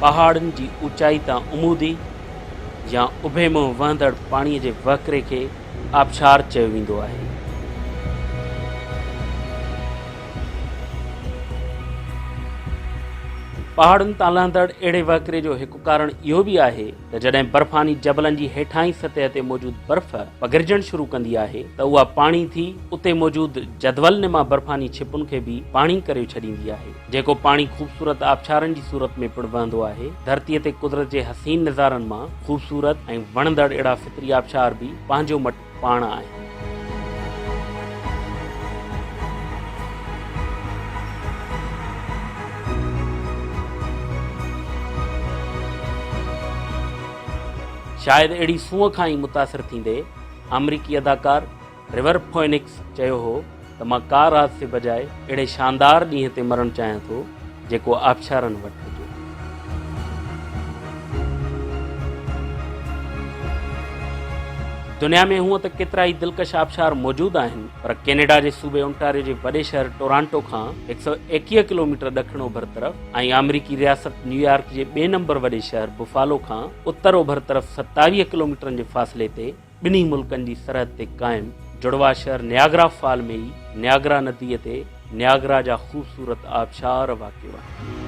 پهاڙن جي اوچائي تان عمودي يا اڀي منهن وهندڙ پاڻي جي وهڪري کي آبشار چيو ويندو آهي. پهاڙن تان لهندڙ اهڙي وهڪري جو هڪ ڪارڻ اهو به آهي ته جڏهن برفاني جبلن جي هيٺاهين سطح تي موجود برف پگهرجڻ شروع ڪندي آهي ته اها پاڻي ٿي اتي موجود جدول نما برفاني ڇپن کي به پاڻي ڪريو ڇڏيندي آهي جيڪو پاڻي خوبصورت آبشارن جي صورت ۾ پڻ وهندو آهي ڌرتي تي قدرت جي حسين نظارن مان خوبصورت ۽ وڻندڙ اهڙا فطري آبشار به پنهنجو پاڻ آهي. شايد اهڙي سونهن کان ئي متاثر ٿيندي آمريڪي اداڪار ريور فوئنڪس چيو هو، ته مان ڪار حادثي بجاء اهڙي شاندار ڏينهن تي مرڻ چاهيان ٿو جيڪو آبشارن وٽ هجي. دنيا ۾ هونء ته ڪيترائي دلڪش آبشار موجود آهن پر ڪينيڊا جي صوبي اونٽاريو جي وڏي شهر ٽورانٽو کان هڪ سؤ ايڪيهه ڪلوميٽر ڏکڻ اوڀر طرف ۽ آمريڪي رياست نيويارڪ جي ٻئي نمبر وڏي شهر بفالو کان اتر اوڀر طرف ستاويهه ڪلوميٽرن جي فاصلي تي ٻنهي ملڪن جي سرحد تي قائم جڙواء شهر نياگرا فال ۾ ئي نياگرا نديء تي نياگرا جا خوبصورت آبشار واقع آهن.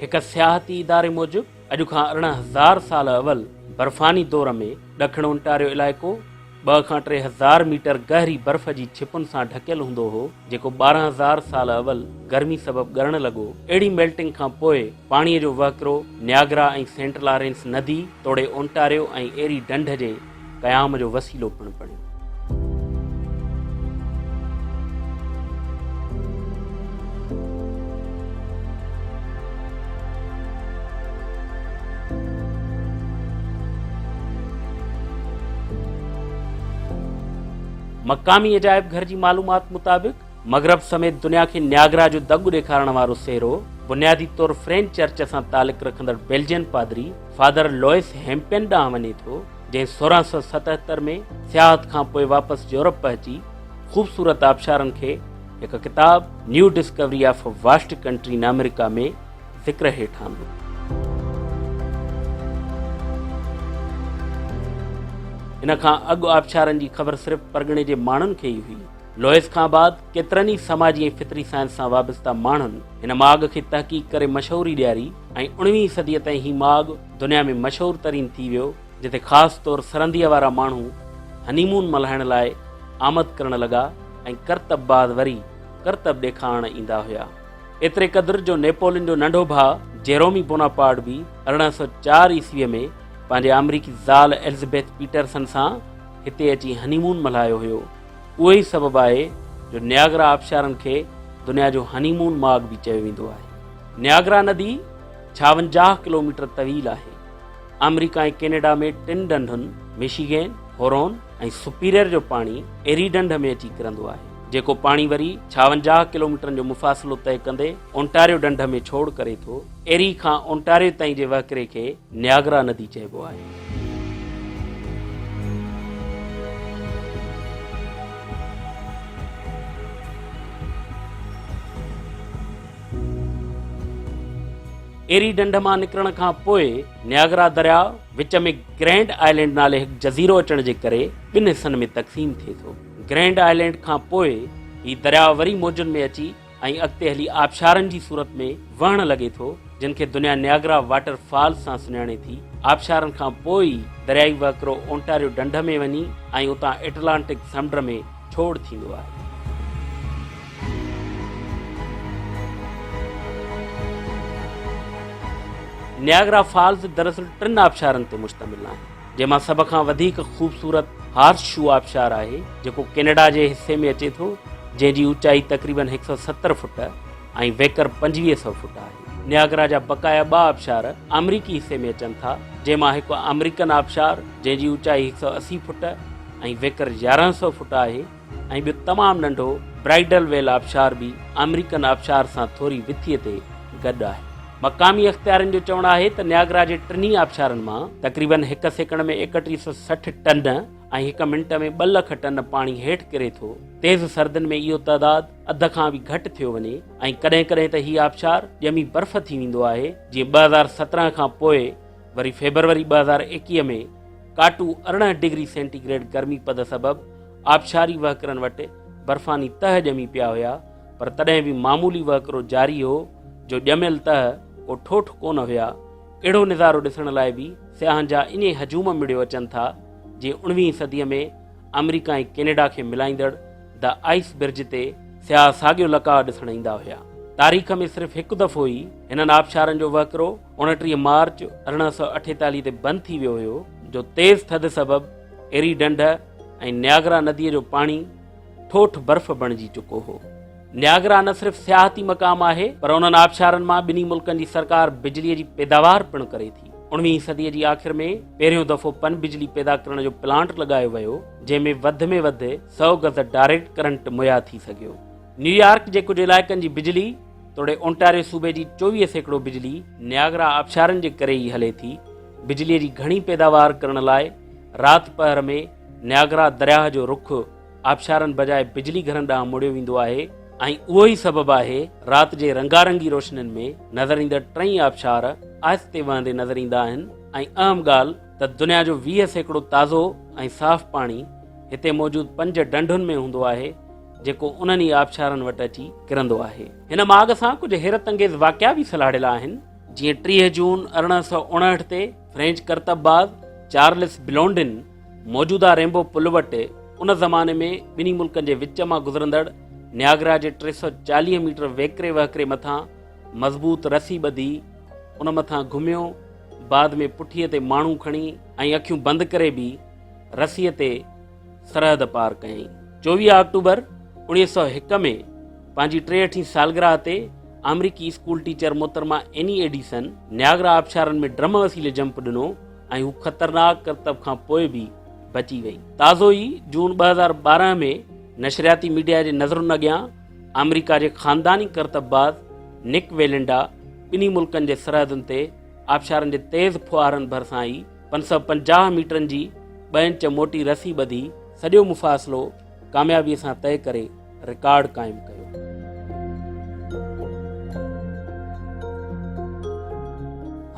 هڪ سياحتي اداري موجب اڄ کان ارڙهن هزار سال اول برفاني دور ۾ ڏکڻ اونٽاريو علائقو ٻه کان ٽي هزار ميٽر گهري برف جي ڇپن سان ڍڪيل هوندو هو، جيڪو ٻارهن هزار سال اول گرمي سبب ڳرڻ لڳو. اهڙي ميلٽنگ کان پوء پاڻيء جو وهڪرو نياگرا ۽ سينٽ لارينس ندي توڙي اونٽاريو ۽ ايري ڍنڍ جي قيام جو وسيلو پڻ بڻيو. مقامي عجائب گهر جي معلومات مطابق مغرب سميت دنيا کي نياگرا جو دڳ ڏيکارڻ وارو سهرو بنيادي طور فرين چرچ سان تعلق رکندڙ بيلجين پادري فادر لوئس هيمپين ڏانهن وڃي ٿو جنهن سورهن سو ستهتر ۾ سياحت کان پوء واپس يورپ پهچي خوبصورت آبشارن کي هڪ ڪتاب new discovery of vast country in America ۾ ذڪر هيٺ آندو. ان کان اڳ آبشارن جي خبر صرف پرڳڻي جي ماڻهن کي ئي هئي. لوئس کان بعد ڪيترن ئي سماجي ۽ فطري سائنس سان وابسته ماڻهن هن ماڳ کي تحقيق ڪري مشهوري ڏياري ۽ اڻويهين صديء تائين هي ماڳ دنيا ۾ مشهور ترين ٿي ويو جتي خاص طور سرنديء وارا ماڻهو هني مون ملهائڻ لاء آمد ڪرڻ لڳا ۽ ڪرتب بعد وري ڪرتب ڏيکارڻ ايندا هيا. ايتري قدر جو نيپولين جو ننڍو ڀاء جيرومي بوناپارٽ به ارڙهن سؤ چار عيسويء ۾ پنهنجي آمريڪي زال ايلزبيٿ پيٽرسن سان هتي اچي هني مون ملهايو هيو. اهو ئي سبب آهي جو نياگرا آبشارن کي دنيا جو هني مون ماڳ به چيو ويندو آهي. نياگرا ندي ڇاونجاهه ڪلوميٽر طويل آهي. آمريڪا ۽ ڪينيڊا ۾ ٽن ڍنڍن ميشيگين، هورون ۽ سپيريئر جو پاڻي ايري ڍنڍ ۾ اچي ڪرندو آهي. جيڪو پاڻي وري ڇاونجاهه ڪلوميٽرن جو مفاصلو طئي ڪندي اونٽاريو ڍنڍ ۾ ڇوڙ ڪري ٿو. ايري کان اونٽاريو تائين جي وهڪري کي نياگرا ندي چئبو آهي. ايري ڍنڍ مان نڪرڻ کان پوء نياگرا درياء وچ ۾ گرينڊ آئلينڊ نالي هڪ جزيرو اچڻ جي ڪري ٻن حصن ۾ تقسيم ٿئي ٿو. گرينڊ آئلينڊ کان پوء هي درياء وري موجن ۾ اچي ۽ اڳتي هلي آبشارن جي صورت ۾ وهڻ لڳي ٿو، جن کي دنيا نياگرا واٽر فالز سان سڃاڻي ٿي. آبشارن کان پوء ئي دريائي وهڪرو اونٽاريو ڍنڍ ۾ وڃي ۽ اتان اٽلانٽڪ سمنڊ ۾ ڇوڙ ٿيندو آهي. نياگرا فالز دراصل ٽن آبشارن تي مشتمل آهن. جنهن مان سڀ کان وڌيڪ خوبصورت هارس شو آبشار آهي جيڪو ڪينيڊا جي حصي ۾ اچي ٿو جنهن جي اوچائي تقريبن هڪ سؤ ستر فوٽ ۽ ويڪر پنجويهه سؤ فوٽ آهي. نياگرا جا بقايا ٻه آبشار آمريڪي حصي ۾ اچن ٿا جنهن مان هڪ آمريڪن آبشار جنهن جي اوچائي هڪ سؤ اسي فوٽ ۽ ويڪر يارهن سؤ فوٽ آهي. ۽ ٻيو تمام ننڍو برائيڊل ويل آبشار به آمريڪن آبشار سان ٿوري وٿيء تي گڏ آهي. مقامي اختيارين جو چوڻ آهي ته نياگرا جي ٽنهي آبشارن مان تقريبن هڪ سيڪنڊ ۾ ايڪٽيهه سؤ سٺ ٽن ۽ هڪ منٽ ۾ ٻه لک ٽن پاڻي هيٺ ڪري ٿو. تيز سردين ۾ اهو تعداد اڌ کان به گهٽ ٿيو وڃي ۽ ڪڏهن ڪڏهن ته هي آبشار ڄمي برف ٿي ويندو آهي، جيئن ٻه هزار سترهن کان پوء وري فيبروري ٻه هزار ايڪيهه ۾ ڪاٽو ارڙهن ڊگري سينٽي گريڊ گرمي پد سبب آبشاري وهڪرن وٽ برفاني تهه ڄمي پيا هيا پر تڏهن به معمولي وهڪرو جاري هو جو ڄميل تهه ڪو ٺوٺ ڪونه هيا اهڙو نظارو ڏسڻ لاء به سياحن جا انهي هجوم مڙيو اچن ٿا جي اڻويهين صدي ۾ آمريڪا ۽ ڪينيڊا کي ملائيندڙ دا آئس برج تي سياح ساڳيو لقاء ڏسڻ ايندا هيا تاريخ ۾ صرف هڪ دفعو ئي هنن آبشارن جو وهڪرو اڻٽيهه مارچ ارڙهن سؤ اٺيتاليهه تي بند ٿي ويو هيو جو تيز ٿڌ سبب ايري ڍنڍ ۽ نياگرا نديء جو پاڻي ٺوٺ برف بڻجي چڪو هو نياگرا نه صرف سياحتي مقام آهي پر انهن آبشارن مان ٻنهي ملڪن جي سرڪار بجلي جي پيداوار پڻ ڪري ٿي اڻويهين صديء جي آخر ۾ پهريون دفعو پن بجلي پيدا ڪرڻ جو پلانٽ لڳايو ويو جنهن ۾ وڌ ۾ وڌ سؤ گز ڊائريڪٽ ڪرنٽ مهيا ٿي سگهيو نيويارڪ جي ڪجهه علائقن جي بجلي توڙي اونٽاريو صوبي جي چوويهه سيڪڙو بجلي نياگرا آبشارن جي ڪري ئي هلي ٿي بجلي جي گهڻي پيداوار ڪرڻ لاء رات پهر ۾ نياگرا درياهه جو رخ آبشارن بجاء بجلي گهرن ڏانهن موڙيو ويندو آهي ۽ اهو ئي سبب آهي رات جي رنگارنگي روشنين ۾ نظر ايندڙ ٽئي آبشار آهستي وهندي نظر ايندا آهن ۽ اهم ڳالهه ته دنيا جو ويهه سيڪڙو تازو ۽ صاف پاڻي هتي موجود پنج ڍنڍن ۾ هوندو آهي جيڪو انهن ئي آبشارن وٽ اچي ڪرندو آهي. هن ماڳ سان ڪجهه حيرت انگيز واقعا به سلهاڙيل آهن، جيئن ٽيهه جون ارڙهن سؤ اڻهٺ تي فرينچ ڪرتب باز چارلس بلونڊن موجوده رينبو پل وٽ ان زماني ۾ ٻنهي ملڪن جي وچ مان گذرندڙ نياگرا جي ٽي سؤ چاليهه ميٽر ويڪري وهڪري مٿان مضبوط رسي ٻڌي ان مٿان گهميو بعد ۾ پٺيء تي ماڻهو کڻي ۽ اکيون بند ڪري به رسيء تي سرحد پار ڪيائين. چوويهه آڪٽوبر اوڻيهه سؤ هڪ ۾ پنهنجي ٽيهٺين سالگرهه تي آمريڪي اسڪول ٽيچر محترمه ايني ايڊيسن نياگرا آبشارن ۾ ڊرم وسيلي جمپ ڏنو ۽ هو خطرناڪ ڪرتب کان پوء به بچي وئي. تازو ئي جون ٻه هزار ٻارهن ۾ نشرياتي ميڊيا جي نظرن اڳيان آمريڪا جي خانداني ڪرتب باز نڪ ويلنڊا ٻنهي ملڪن جي سرحدن تي آبشارن جي تيز ڦوهارن ڀرسان ئي پنج سؤ پنجاهه ميٽرن جي ٻه انچ موٽي رسي ٻڌي سڄو مفاصلو ڪاميابي سان طئي ڪري رڪارڊ قائم ڪيو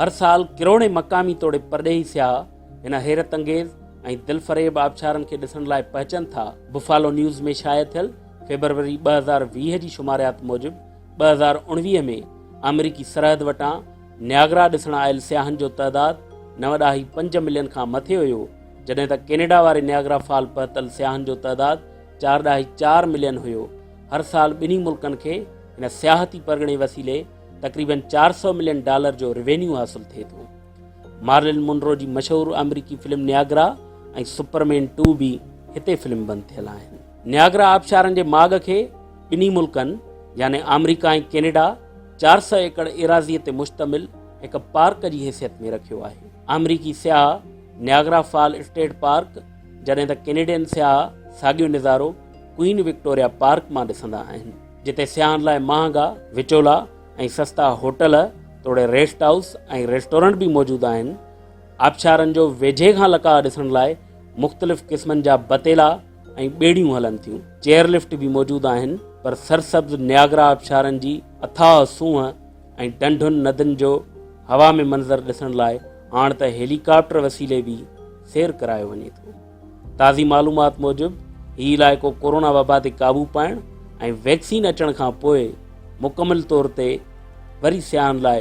هر سال ڪروڙين مقامي توڙي پرڏيهي سياح هن حيرت انگيز ۽ دلفريب آبشارن کي ڏسڻ لاء پهچن ٿا بفالو نيوز ۾ شايع ٿيل فيبروري ٻه هزار ويهه جي شماريات موجب ٻه هزار اڻويهه ۾ آمريڪي سرحد وٽان نياگرا ڏسڻ آيل سياحن جو تعداد نه وڏاهي پنج ملين کان مٿي هيو، جڏهن ته ڪينيڊا واري نياگرا فال پهتل سياحن جو تعداد چار ڏاهي چار ملين هيو. هر سال ٻنهي ملڪن کي هن سياحتي پرڳڻي وسيلي تقريبن چار سؤ ملين ڊالر جو روينيو حاصل ٿئي ٿو. مارلن مونرو جي مشهور آمريڪي فلم نياگرا ۽ سپرمين ٽو به هتي فلم بند ٿيل آهن. نياگرا آبشارن جي ماڳ کي ٻنهي ملڪن يعني آمريڪا ۽ ڪينيڊا چار سئو ايڪڙ ايراضيء تي مشتمل هڪ پارڪ جي حيثيت ۾ رکيو آهي. آمريڪي سياح نياگرا فال اسٽيٽ پارڪ جڏهن ته ڪينيڊين سياح ساڳيو نظارو ڪوئين وڪٽوريا پارڪ مان ڏسندا آهن جتي سياحن لاء مهانگا وچولا ۽ سستا هوٽل توڙي ريسٽ هائوس ۽ ريسٽورنٽ به موجود آهن آبشارن جو ويجهي کان لقاء ڏسڻ لاء مختلف قسمن جا بتيلا ۽ ٻيڙيون هلن ٿيون. چيئر لفٽ به موجود آهن پر سرسبز نياگرا آبشارن جي اٿاهه سونهن ۽ ڍنڍن ندين جو هوا ۾ منظر ڏسڻ لاء هاڻ ته هيلي ڪاپٽر وسيلي به سير ڪرايو وڃي ٿو. تازي معلومات موجب هي علائقو ڪورونا وبا تي قابو پائڻ ۽ ويڪسين اچڻ کان پوء مڪمل طور تي وري سياحن لاء